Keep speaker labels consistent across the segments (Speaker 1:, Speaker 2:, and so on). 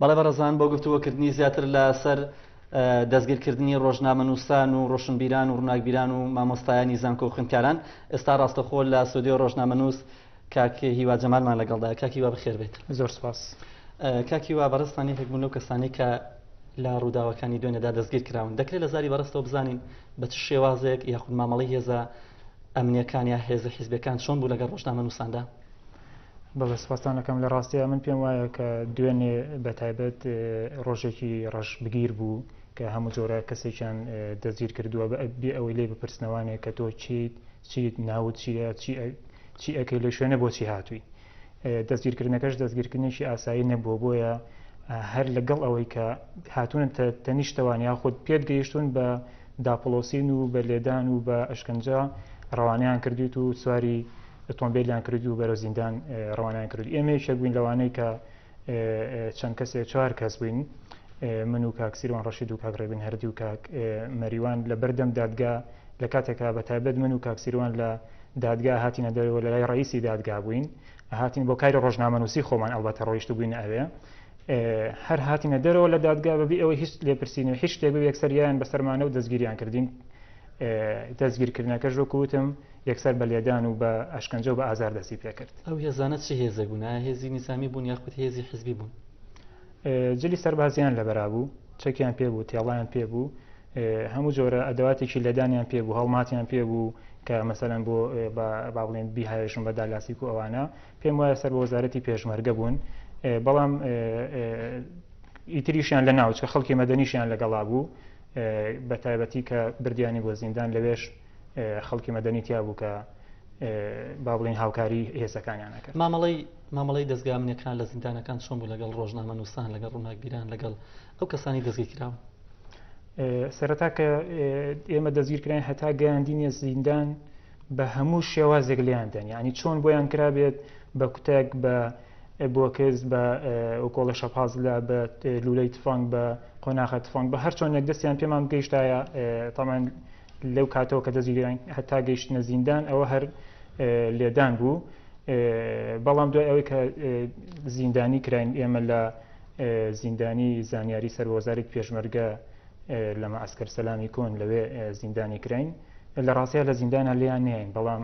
Speaker 1: بەڵێ بەڕێزان بۆ گفتوگۆ کردنی زیاتر لە سەر دەستگیر کردنی ڕۆژنامەنووسان و ڕۆشنبیران و ڕووناکبیران و مامۆستایانی زانکۆ و خوێندکاران ئێستا ڕاستەخۆ لە سودیۆ ڕۆژنامەنووس کاک هیوا جەمالمان لەگەڵدا کاک هیوا بەخێر بێت زۆر سپاس
Speaker 2: کاک هیوا
Speaker 1: بەڕێزتان یەکێک بوون لەو کەسانی کە لە ڕووداوەکانی دوێنێدا دەستگیر کراون دەکرێت لە زاری بەڕستەوە بزانین بە چ شێوازێک یاخود مامەڵی هێزە ئەمنیەکان یا هێزە حیزبەکان چۆن بوو لەگەڵ ڕۆژنامە نووساندا
Speaker 2: بەڵێ سپاستان ئەکەم لە ڕاستیا من پێم وایە کە دوێنێ بە تایبەت ڕۆژێکی ڕەش بگیر بوو کە هەموو جۆرە کەسێکیان دەستگیر کردووە بە بێ ئەوەی لێ بپرسنەوانێک کە تۆ چیت چیت ناوت چیە چی ئەکەی لە شوێنە بۆچی هاتووی دەستگیرکردنەکەش دەستگیرکردنێکی ئاسایی نەبووە بۆیە هەر لەگەڵ ئەوەی کە هاتوونە تەنیشتەوان یاخود پێت گەیشتون بە داپڵۆسین و بە لێدان و بە ئەشکەنجە ڕەوانەیان کردوویت و سواری ئۆتۆمبێلیان کردووی و بەرەو زیندان ڕەوانەیان کردووی. ئێمە یەکێک بووین لەوانەی کە چەند کەسێ چوار کەس بووین، من و کاک سیروان ڕەشید و کاک ڕێبین هەردی و کاک مەریوان لە بەردەم دادگا لە کاتێکا بە تایبەت من و کاک سیروان لە دادگا هاتینە دەرەوە لە لای ڕەئیسی دادگا بووین، هاتین بۆ کاری ڕۆژنامەنووسی خۆمان ئەڵبەتە ڕۆیشت بووینە ئەوێ هەر هاتینە دەرەوە لە دادگا بەبی ئەوەی هیچ لێپرسین و هیچ شتێک بێ یەکسەریان بەسەرمانە و دەستگیریان کردین دەستگیرکردنەکەش وەکوتم یەکسەر بە لێدان و بە ئەشکەنجە و بە ئازار دەستی پێکرد ئەو هێزانە چه
Speaker 1: هێزێک بوون هێزی نیزامی بوون یاخود هێزی حزبی بوون جلی
Speaker 2: سەربازیان لەبەرابوو، چەکیان پێ بوو، تێڵیان پێ بوو، هەموو جۆرە ئەدەواتێکی لێدانیان پێ بوو، هەڵماتیان پێ بوو کە مەسەلەن بۆ با بڵێن بیهاوێژن بە دالاسیک و ئەوانە، پێم وایە سەر بە وەزارەتی پێشمەرگە بوون، بەڵام ئیتریشیان لە ناوچکە خەڵکی مەدەنیشیان لەگەڵا بوو بە تایبەتی کە بردیانی بۆ زیندان لەوێش خەڵکی مەدەنی تیا بوو کە با بڵین هاوکاری هێزەکانیانەکە مامەڵی مامەڵەی دەزگا
Speaker 1: ئەمنیەکان لە زیندانەکان چۆن بوو لەگەڵ ڕۆژنامە نووسان لەگەڵ ڕووناکبیران لەگەڵ ئەو کەسانی دەستگیر کراون
Speaker 2: سەرەتا کە ئێمە دەستگیرکراین هەتا گەیاندینە زیندان بە هەموو شێوازێک لیاندن ینی چۆن بۆیان کرابێت بە کوتێک بە بۆکز بە ئۆکۆڵە شەپاز لە بە لولەی تفانگ بە قۆناغە تفانگ بە هەر چۆنێک دەستیان پێمان گەیشتایە تامان لەو کاتەوە کە دەستی گران هەتا گەیشتنە زیندان ئەوە هەر لێدان بوو بەڵام دوای ئەوەی کە زیندانی کراین ئێمە لە زیندانی زانیاری سەر وەزارت پێشمەرگە لە مەعسکەر سەلامی کۆن لەوێ زیندانی کراین لە ڕاستەیە لە زیندانە لێیان نین بەڵام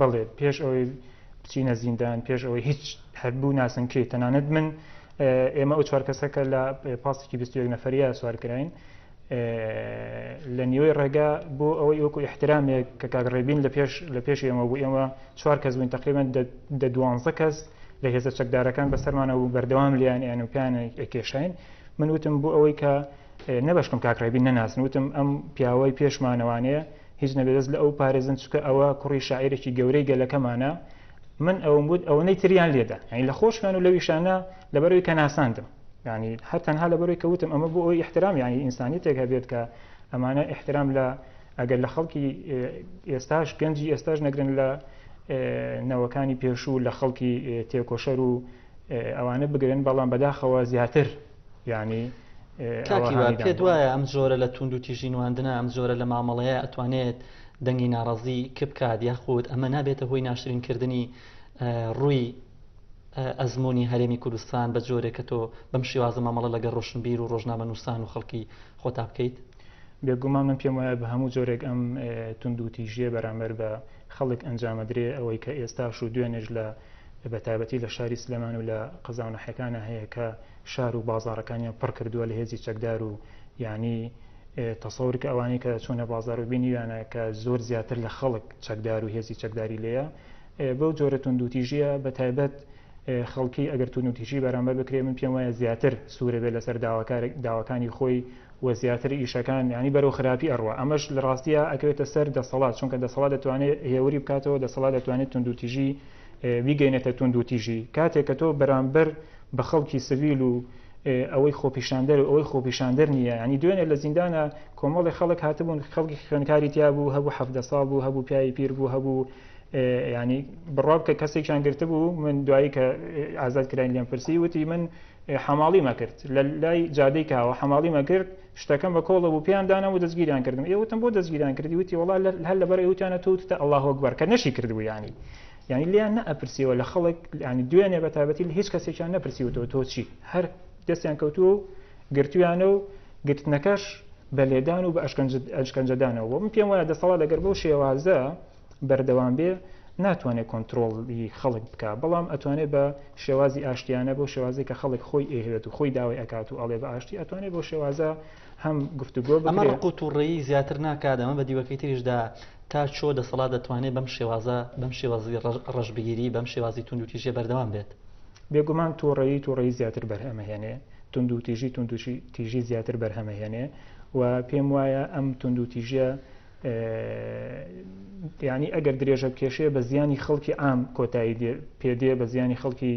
Speaker 1: بەڵێ پێش
Speaker 2: ئەوەی بچینە زیندان پێش ئەوەی هیچ هەبوو ناسن کێ تەنانەت من ئێمە ئەو چوار کەسەکە لە پاسێکی 21 نەفریا سوارکراین لە نیوەی ڕێگا بۆ ئەوەی وەکو احترامێک کە کاگڕێبین لە پێش لە پێش ئێمە بوو ئێمە چوار کەس بووین تقریبان دە دوانزە کەس لە هێزە چەکدارەکان بەسەرمانە و بەردەوام لیان یان و پیان ئەکێشین من وتم بۆ ئەوەی کە نەبشکم کاکڕێبی نەناسن وتم ئەم پیاوەی پێشمانەوانەیە هیچ نەبێ دەست لە ئەو پارێزن چکە ئەوە کوڕی شاعیرێکی گەورەی گەلەکەمانە من ئەوم بوت ئەوەنەی تریان لێدا ئەین لە خۆشمان و لەویشانە لەبەرەوەی کە ناساندم ینی هەر تەنها لەبەرەوەی کەوتم ئەمە بۆ ئەوی احترام ینی ئینسانی تێک هەبێت کە ئەمانە احترام لە ئەگەر لە خەڵکی ئێستاش گەنجی ئێستاش نەگرن لە نەوەکانی پێشوو لە خەڵکی تێکۆشەر و ئەوانە بگرن بەڵام بەداخەوە زیاتر یانی کاک هیوا
Speaker 1: پێت وایە ئەم جۆرە لە توند و تیژی نواندنە ئەم جۆرە لە مامەڵەیە ئەتوانێت دەنگی ناڕازی کپ بکات یاخود ئەمە نابێتە هۆی ناشرین کردنی ڕووی ئەزمموی هەرێمی کوردستان بە جۆرێک کە تۆ بەم شێوازە مامەڵە لەگە ڕۆشنبیر و ڕۆژنامە نووسان و خەڵکی خۆتا بکەیت بێگومان من
Speaker 2: پێم وایە بە هەموو جۆرێک ئەم تونند و تیژیە بەرامبەر بە خەڵک ئەنجامەدرێ، ئەوەی کە ئێستاش و دوێنێش لە بە تایبەتی لە شاری سلێمان و لە قەزا و ناحیەکانا هەیە کە شار و بازاڕەکانیان پڕ کردووە لە هێزی چەکدار و یانی تەسەور بکە ئەوانەی کە چوونە بازار و بینیویانە کە زۆر زیاتر لە خەڵک چەکدار و هێزی چەکداری لێیە بەو جۆرە توندوتیژیە بە تایبەت خەڵکی ئەگەر توندوتیژی بەرامبەر بکرێ من پێم وایە زیاتر سوورە بێ لەسەر داواکار داواکانی خۆی و زیاتر ئیشەکان یانی بەرەو خراپی ئەڕوا ئەمەش لە ڕاستیا ئەکەوێتە سەر دەسەڵات چونکە دەسەڵات دەتوانێ هێوری بکاتەوە دەسەڵات دەتوانێت توندوتیژی بیگەینێتە توندوتیژی کاتێک کە تۆ بەرامبەر بە خەڵکی سڤیل و ئەوەی خۆپیشاندەر و ئەوەی خۆپیشاندەر نییە ینی دوێنێ لە زیندانە کۆمەڵی خەڵک هاتبوون خەڵکی خوێنکاری تیا بوو هەبوو حەفدە ساڵ بوو هەبوو پیاوی پیر بوو هەبوو ینی بڕاب کە کەسێکیان گرتبوو من دوایی کە ئازاد کراین لێم پرسی وتی من حەماڵی مەکرد لە لای جادەی کاوە حەماڵی مەکرد شتەکەم بە کۆڵە بوو پێیان دانام و دەستگیریان کردم ئێ وتم بۆ دەستگیران کردی وتی وڵا هەر لەبەر ئەوتیانە تۆ وتتە ئەڵا هۆکبەر کە نەشی کردبوو ینی ینی لیان نەپرسیەوە لە خەڵک ینی دوێنێ بە تابەتی لە هیچ کەسێکیان نەپرسیوتەوە تۆ چی هەر دەستیان کەوتووە و گرتویانە و گرتنەکەش بە لێدان و بە ئەشکەنجەدانەوە من پێم وایە دەسەڵات لەگەر بەو شێوازە بەردەوام بێ ناتوانێت کۆنتترۆڵی خەڵک بکە بەڵام ئەتوانێت بە شێوازی ئاشتیانە بۆ شێوازی کە خەڵک خۆی ئێهوێت و خۆی داوای ئەکات و ئەڵێ بە ئاشتی ئەتوانێت بۆ شێوازە هەم گفتوگۆ ئەمە ڕقوت و ڕێی زیاتر
Speaker 1: ناکات ئەمە بە دیوەکەی تریشدا تا چۆ دەسەڵات دەتوانێت بەم شێوازە بەم شێوازی ڕژبگیری بەم شێوازی تونند و تیژە بەردەوام بێت بێگومان
Speaker 2: تووڕەیی تووڕەی زیاتر بەرهەمەهێنێ تونند و تیژی تونندشی تیژی زیاتر بەرهەمەهێنێ و پێم وایە ئەم تونند و تیژە ینی ئەگەر درێژە کێشێ بە زیانی خەڵکی ئام کۆتایی پێدێ بە زیانی خەڵکی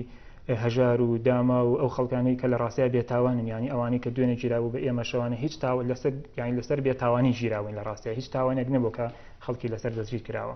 Speaker 2: هەژار و داما و ئەو خەڵکانەی کە لە ڕاستای بێتاوانن ینی ئەوانەی کە دوێنێ گیرابوو بە ئێمە شەوانە هیچ تاوە لەسەر یانی لەسەر بێتاوانی گیراوین لە ڕاستای هیچ تاوانێک نەبوو کە خەڵکی لەسەر دەستگیر کراوە